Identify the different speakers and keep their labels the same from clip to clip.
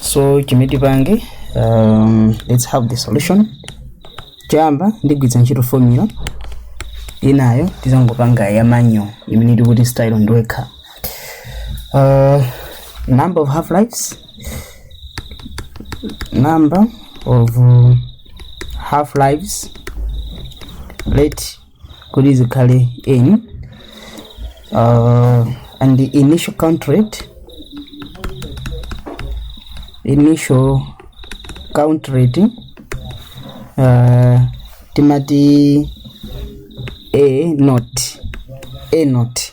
Speaker 1: so chimene tipange um, let's have the solution choyamba ndigwiritsa ntchito formula inayo tizangopanga ya manyo imene tikuti style ndiwekha uh, number of half lives number of uh, half lives let kuti zikhale in uh, and the initial count rate initial count rate uh, timati a not a not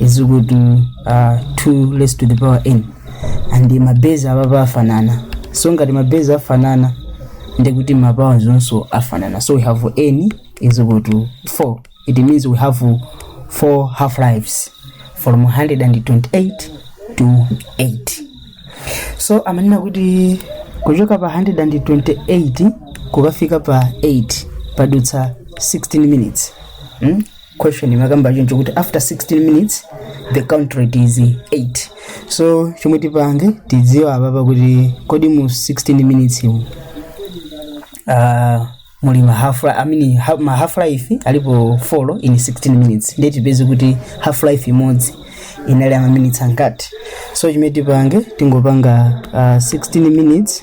Speaker 1: is equal to uh, 2 raised to the power n and mabezi apapa afanana so ngati mabezi afanana ndekuti mapawa onso afanana so we have n is equal to 4 it means we have 4 half lives from 128 to 8 so amanena kuti kuchoka pa 128 kukafika pa 8 padutsa 16 minutes mm? question imakamba choncho kuti after 16 minutes the count rate is 8 so chomwe tipange tidziwe apapa kuti kodi mu 16 minutes mu uh, muli ma half life, I mean, ha, ma half life alipo 4 in 16 minutes ndiye tipeze kuti half life imodzi inali ya ma minutes angati so chimene tipange tingopanga uh, 16 minutes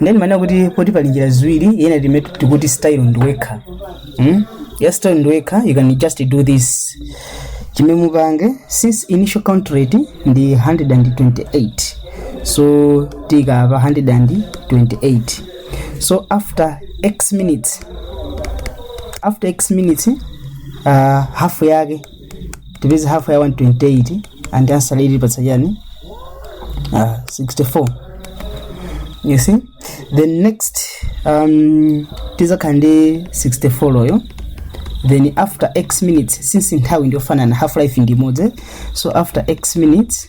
Speaker 1: nde ndimanena kuti poti pali njira ziwiri ina timati tikuti style ndiwekha mm? ya style ndiwekha you can just do this chimene mupange since initial count rate ndi 128 so tikhala pa 128 so after x minutes after x minutes uh, half yake tipeze half ya 128 and answer yake itipatsa chani uh, 64 you see then next um, tizakhala ndi 64 yo then after x minutes since nthawi ndiyofanana half life ndi imodzi so after x minutes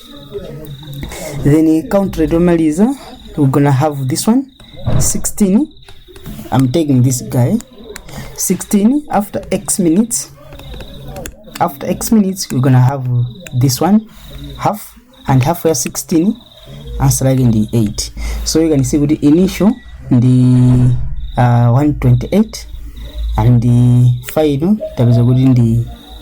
Speaker 1: then country tomaliza we're gonna have this one 16 i'm taking this guy 16 after x minutes after x minutes we're gonna have this one half and half ya 16 answer yake ndi 8 so you can see kuti initial ndi uh, 128 and the final tapeza kuti ndi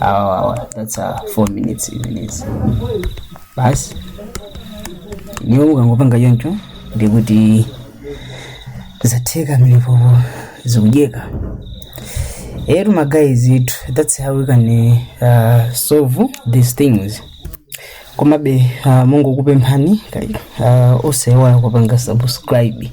Speaker 1: awa awa that's a 4 minutes minutes basi ndiwo ukangopanga choncho ndikuti zatheka mulipo zikudyeka eti magaye zitu that's how we can uh, solve these things komabe uh, ndingokupemphani kaya uh, osaiwala kupanga subscribe